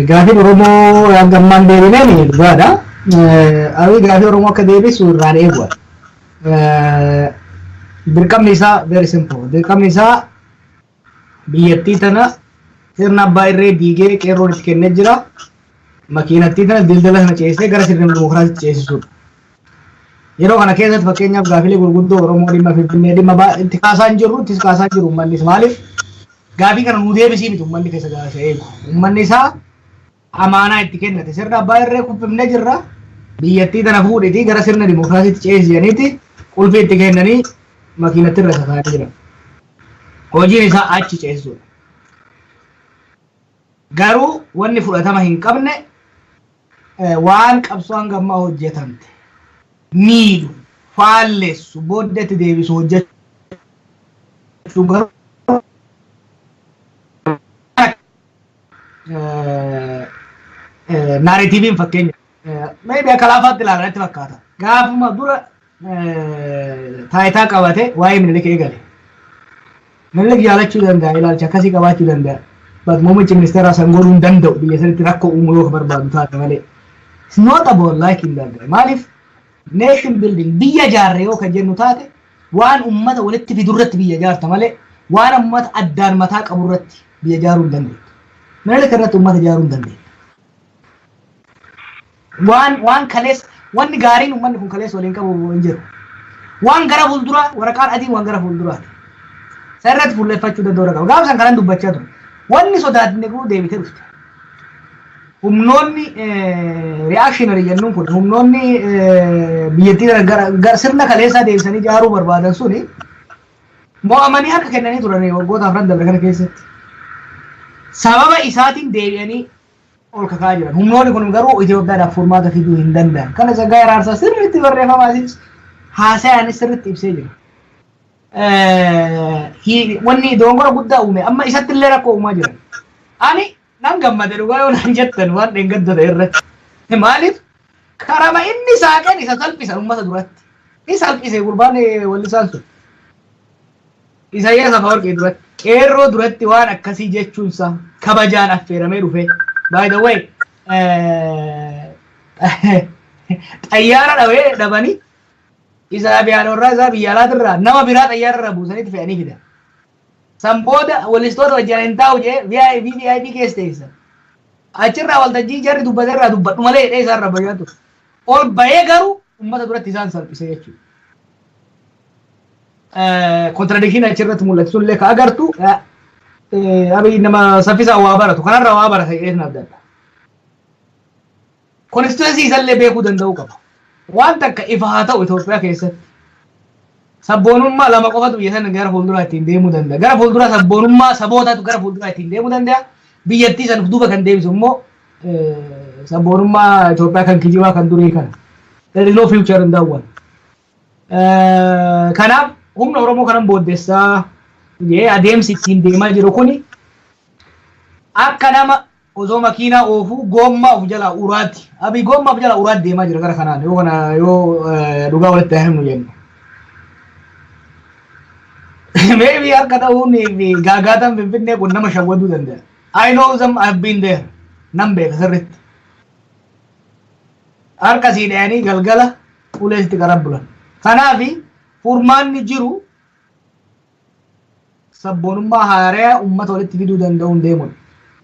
Gaafiin Oromoo hanga ammaan deebineen dhugaadha. Abiy gaafii Oromoo akka deebisu irraan eegu. Dirqamni isaa very simple. Dirqamni isaa biyyattii tana sirna abbaa irree diigee qeerroon itti kennee jira. Makiinattii tana dildala sana ceesisee gara sirna dimokiraasiitti ceesisuudha. Yeroo kana keessatti fakkeenyaaf gaafilee gurguddoo Oromoo dhimma Finfinnee dhimma baa- itti kaasaa hin jirru ittis kaasaa jiru uummannis maaliif gaafii kana nuu deebisii miti uummanni keessa gaasa eegu. Uummanni isaa amaanaa itti kennate sirna abbaa irree kuffifnee jirra biyyattii tana fuudhitii gara sirna dimookiraasiitti ceesisi jedhaniiti qulfii itti kennanii makiinatti irra isa kaa'anii jiran. Hojiin isaa achi ceesisuudha. Garuu wanni fudhatama hin qabne waan qabsoo hanga ammaa hojjetamte miidhu, faallessu, booddetti deebisu hojjechuun garuu naaretiiviin fakkeenya meediyaa kalaafaatti ilaalan itti fakkaata. Gaafuma dura taayitaa qabate waa'ee Minilik eegale. Minilik jaalachuu danda'a, ilaalcha akkasii qabaachuu danda'a. But muummichi ministeeraa san godhuu hin danda'u biyya sanitti rakkoo uumuu yoo ka barbaadu taate malee. It's not about liking that guy. Maaliif nation building biyya jaarre yoo kan jennu taate waan ummata walitti fidu irratti biyya jaarta malee waan ummata addaan mataa qabu irratti biyya jaaruu hin dandeettu. Minilik irratti ummata jaaruu hin dandeettu. Waan, waan kaleessa, wanni gaariin ummanni kun kaleessa waliin qabu hin jiru. Waan gara fuulduraa, waraqaan adiin waan gara fuulduraati. San irratti fuulleffachuu danda'uu irra qaba. Gaafa san kanan dubbachaa ture. Wanni sodaatne kun deebitee dhufte. Humnoonni eh, reactionary jennuun kun humnoonni eh, biyyattii gara, gara, gara sirna kaleessaa deebisanii ijaaruu barbaadan suni mo'amanii harka kennanii turan waggoota afran dabre kana keessatti. Sababa isaatiin deebi'anii ol kakaa jiran. Humnoonni kun garuu Itoophiyaadhaaf furmaata fiduu hin danda'an. Kana Tsaggaayee Araarsaa sirriitti barreeffama asiis haasayaanis sirriitti ibsee jira. Wanni doongora guddaa uume amma isatti illee rakkoo uumaa jiran. Ani nan gammade dhugaa yoo naan jettan waan dheengaddota irratti. Maaliif karama inni saaqeen isa salphisa uummata duratti. Ni salphise gurbaan wallisaan sun. Isaayyaas Afawarqii duratti, qeerroo duratti waan akkasii jechuunsaa kabajaan affeeramee dhufee. By the way, xayyaara dhawee dhabanii isa abiyaanoorraa isaa biyya alaatirraa nama biraa xayyaararra buusanitti fe'anii fidan. San booda walistoota wajjin hin taa'u jee VIP VIP keessa teessan. Achirraa waltajjii jarri dubbaterraa dubbadhu malee jedhee isaarra bayyaa ture. Ol bahee garuu uummata duratti isaan salphise jechuudha. Kontiradikshiin achirratti mul'atu sun illee ka agartu abiy nama saffisaan waa baratu kanarra waa barata jedhee sun adda adda. Konstituensii isallee beekuu danda'uu qaba. Waan takka ifa haa ta'u Itoophiyaa keessatti. Sabboonummaa lama qofatu biyya sana gara fuulduraa ittiin deemuu danda'a. Gara fuulduraa sabboonummaa sabootatu gara fuulduraa ittiin deemuu danda'a. Biyyattii sana of duuba kan deebisu immoo sabboonummaa Itoophiyaa kan kijibaa kan durii kana. There is no future in that one. Kanaaf humna Oromoo kanan booddessaa jee adeemsi ittiin deemaa jiru kuni akka nama osoo makiinaa oofuu goommaa of jalaa uraatti abii goommaa of jalaa uraatti deemaa jira gara kanaan yoo kana yoo dhugaa walitti himnu jennu. Maybe harka ta'uun fi gaagaataan finfinnee kun nama shawwaduu danda'a. I know them I've been there nan beeka sirriitti. Harka sii dhayanii galgala fuulee itti qaran bulan. Kanaaf furmaanni jiru sabboonummaa haaraya ummata walitti fiduu danda'uun deemuudha.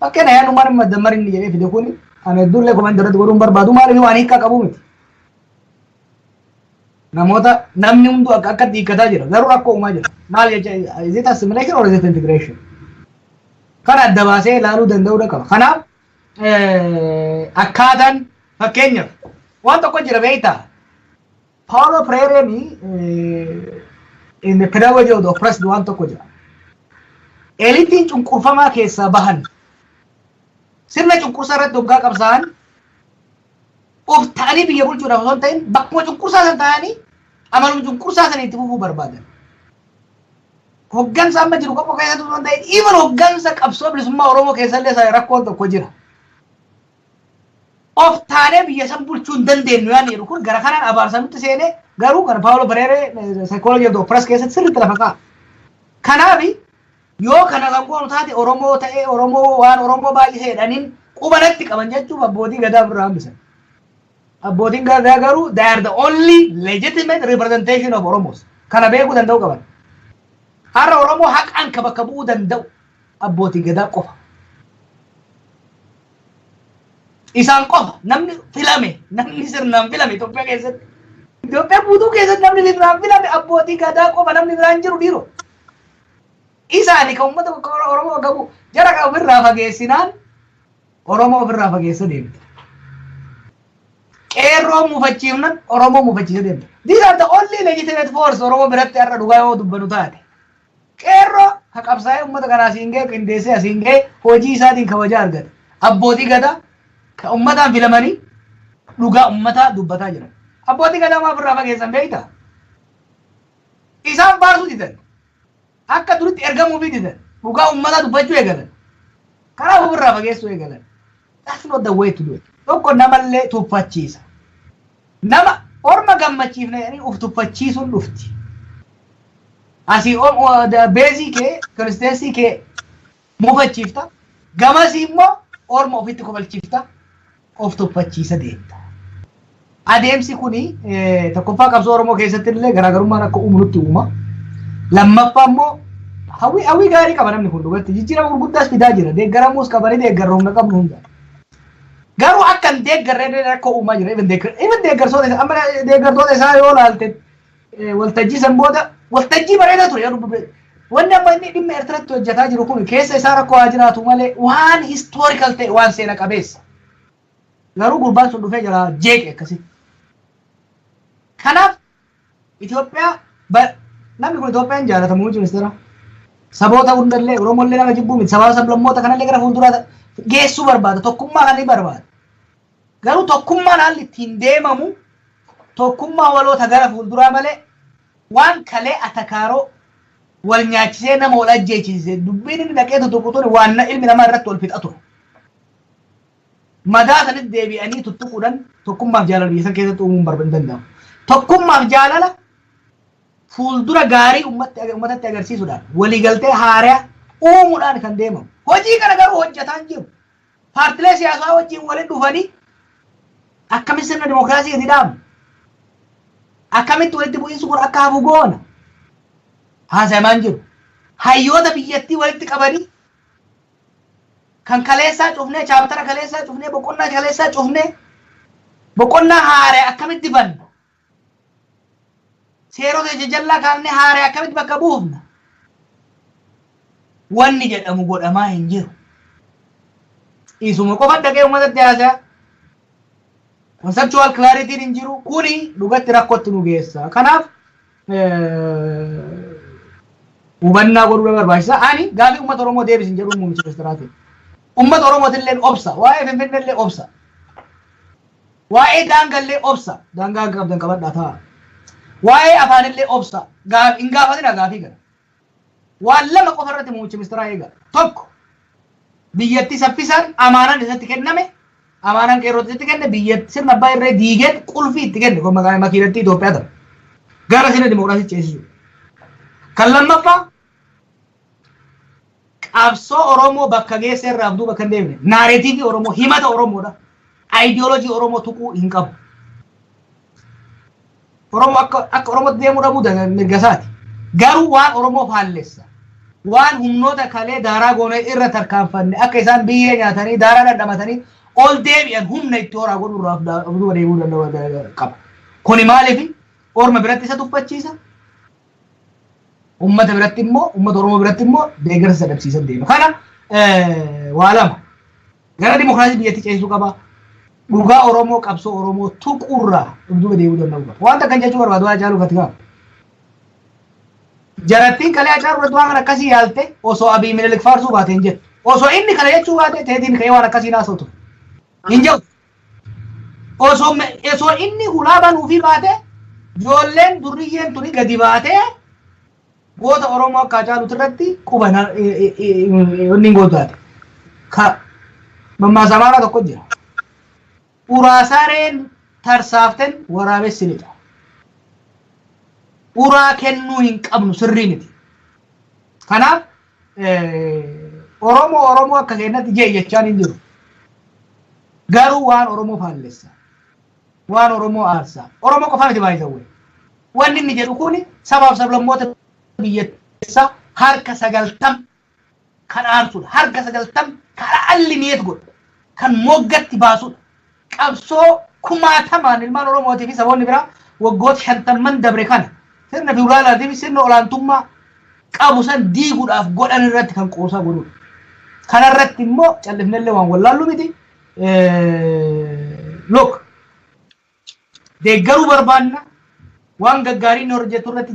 Fakkeenya yaadni Umar Maddammar inni jedhee fide kun kan hedduullee komantii irratti godhuun barbaadu maaliif waan hiikaa qabu miti. Namoota namni hunduu akka akkatti hiikkataa jira garuu rakkoo uumaa jira. Maal jecha is it assimilation or is it integration? Kan adda baasee ilaaluu danda'uudha qaba. Kanaaf akkaataan fakkeenyaaf waan tokko jira beektaa Paolo Freireen in the pedagogy of the oppressed waan tokko jira. Elitiin cunqurfamaa keessaa bahan sirna cunqursaa irratti hoggaa qabsaa'an of ta'anii biyya bulchuudhaaf osoo hin ta'in bakkuma cunqursaa san ta'anii amaluma cunqursaa sana itti fufuu barbaadan. Hoggansa amma jiru qofa keessatti osoo hin ta'in even hoggansa qabsoo bilisummaa Oromoo keessallee sana rakkoon tokko jira. Of taanee biyya san bulchuu hin dandeenyu yaadni jedhu kun gara kanaan abaarsa nutti seenee garuu kan Paawulo Pereeree saayikooloojii of piras keessatti sirriitti lafa kaa'a. Kanaaf yoo kana kan goonu taate Oromoo ta'ee Oromoo waan Oromoo baay'isee jedhaniin quba natti qaban jechuuf abbootii gadaa birraa hambisan. Abbootiin Gadaa garuu they are the only legitimate representation of Oromos. Kana beekuu danda'uu qaban. Har'a Oromoo haqaan ka bakka bu'uu danda'u abbootii Gadaa qofa. Isaan qofa namni filame namni sirnaan filame Itoophiyaa keessatti. Itoophiyaa guutuu keessatti namni sirnaan filame abbootii Gadaa qofa namni biraan jiru dhiiroo. Isaani kan uummata Oromoo bakka bu'u jara kan ofirraa fageessinaan Oromoo ofirraa fageessuu deemte. Qeerroo muufachiifna Oromoo muufachiisuu deemte. These are the only legitimate force Oromoo biratti har'a dhugaa yoo dubbanu taate. Qeerroo ka qabsaa'ee uummata kana asiin ga'e qindeessee asiin ga'e hojii isaatiin kabajaa argate. Abbootii gadaa ka uummataan filamanii dhugaa uummataa dubbataa jiran. Abbootii gadaa maaf irraa fageessan beektaa? Isaan baasuu didan. Akka duritti ergamuufii didan. Dhugaa ummataa dubbachuu eegalan. Karaa ofirraa fageessuu eegalan. That's not the way to do it. Tokko namallee tuffachiisa. Nama orma gammachiifna jedhanii of tuffachiisuun dhufti. Asii beezii kee, konsisteensii kee mufachiifta. Gamasii immoo orma ofitti kofalchiifta, of tuffachiisa deemta. Adeemsi kun tokkoffaa qabsoo Oromoo keessatti illee garaagarummaan akka uumu nutti uuma. Lammaffaa immoo hawwii hawwii gaarii qaba namni kun dhugatti jijjiirama gurguddaas fidaa jira. Deeggaramuus qaba ni deeggarra humna qabnu hunda. Garuu akka hin deeggarre illee rakkoo uumaa jira. Even deeggartoota isaa amma deeggartoota isaa yoo ilaalte waltajjii san booda waltajjii bareedaa ture yeroo dubbee wanni amma inni dhimma Eertiratti hojjetaa jiru kun keessa isaa rakkoo haa jiraatu malee waan historical ta'e waan seena qabeessa. Garuu gurbaan sun dhufee jira jeeqe akkasii. Kanaaf Itoophiyaa namni kun Itoophiyaan jaalata muummichi ministeera. Saboota hundallee Oromollee nama jibbuu miti sababa sablammoota kanallee gara fuulduraa geessuu barbaada tokkummaa kan ni barbaada. Garuu tokkummaan haalli ittiin deemamu tokkummaa waloo ta gara fuulduraa malee waan kalee atakaaroo wal nyaachisee nama wal ajjeechiise dubbiin inni dhaqee tuttuqu tuni waan na- ilmi namaa irratti wal fixa ture. Madaa sanitti deebi'anii tuttuquudhaan tokkummaaf jaalala biyya san keessatti uumuun barba hin danda'amu. Tokkummaaf jaalala fuuldura gaarii ummatti- ummatatti agarsiisuudhaan waliigaltee haaraa uumuudhaan kan deemamu. Hojii kana garuu hojjetaan jiru. Paartilee siyaasaa wajjin walitti dhufanii akkamitti sirna dimokiraasii gadi dhaabna? Akkamitti walitti bu'iinsi kun akka hafu goona? Haasayamaa hin jiru. Hayyoota biyyattii walitti qabanii kan kaleessaa cufnee, chaaptara kaleessaa cufnee, boqonnaa kaleessaa cufnee, boqonnaa haaraya akkamitti banna? Seerota jajallaa kaafnee haaree akkamitti bakka buufna? Wanni jedhamu godhamaa hin jiru. Isuma qofa dhaqee uummatatti haasaa. Conceptual clarity hin jiru. Kuni dhugatti rakkootti nu geessa. Kanaaf hubannaa godhuu barbaachisa. Ani gaaffii uummata Oromoo deebisin jedhuun muummicha ministeeraatiin. Uummata Oromootillee obsa. Waa'ee Finfinnellee obsa. Waa'ee daangallee obsa, daangaa akka qabdan qabadhaa taa'aa. Waa'ee afaanillee obsa, gaaf, hin gaafatinaa gaafii kana. Waan lama qofa irratti muummicha ministeeraa eegaa. Tokko, biyyattii saffisaan amaanaan isatti kenname, amaanaan qeerrootti isatti kenne, biyyatti sirna abbaa irree diigeen qulfii itti kenne, kun maqaa makiinattii Itoophiyaa tana. Gara sirna dimokiraasii ceesisuu. Kan lammaffaa, qabsoo Oromoo bakka geesse irraa of duuba akka hin deebine, naareetiivii Oromoo, himata Oromoodha. Ayidiyoolojii Oromoo tuquu hin qabu. Oromoo akka akka Oromootti deemuu dhabuu da- mirga isaati. Garuu waan Oromoo faallessa. Waan humnoota kalee daaraa goonee irra tarkaanfanne akka isaan biyyee nyaatanii daaraa dhandhamatanii ol deebi'an humna itti horaa godhu irraa of da- of duuba deemuu danda'u da- qaba. Kuni maaliif orma biratti isa tuffachiisa? Uummata biratti immoo uummata Oromoo biratti immoo deeggarsa isa dhabsiisan deema. Kana waa lama gara dimokiraasii biyyatti ceesisuu qaba. Dhugaa Oromoo qabsoo Oromoo tuqurraa dhugduuba deemuu danda'uu qaba. Wanta akkan jechuu barbaadu waa caaluu fati qaba. Jarattiin kalee Hacaaluu irratti waan akkasii yaalte osoo Abiy Minilik faarsuu baate hin jettu. Osoo inni kana jechuu baate teetiin ka'ee waan akkasii naasoo ture. Hin jedhu. Osoo me- osoo inni hulaa banuufii baate ijoolleen durriyyeen tuni gadi baatee goota Oromoo akka Hacaaluuti irratti quba na- i- i- i- i- inni hin gootaate. Ka mammaasa amaaraa tokko jira. Uraasareen tarsaaften waraabessi lixa. Uraa kennuu hin qabnu sirrii miti. Kanaaf Oromoo Oromoo akka keennatti jee jechaan hin jiru. Garuu waan Oromoo faallessa. Waan Oromoo aarsaa. Oromoo qofa miti baay'isawwe. Wanni inni jedhu kun sabaaf sablammoota biyyatteessaa harka sagaltam kan aarsudha. Harka sagaltam kan allineet godhu. Kan moggatti baasudha. Qabsoo kumaatamaan ilmaan Oromootii fi saboonni biraa waggoota shantamman dabre kana sirna fiwudaalaatii fi sirna olaantummaa qabu san diiguudhaaf godhan irratti kan qoosaa godhudha. Kana irratti immoo callifnellee waan wallaallu miti. Look, deeggaruu barbaanna waan gaggaarii inni hojjetu irratti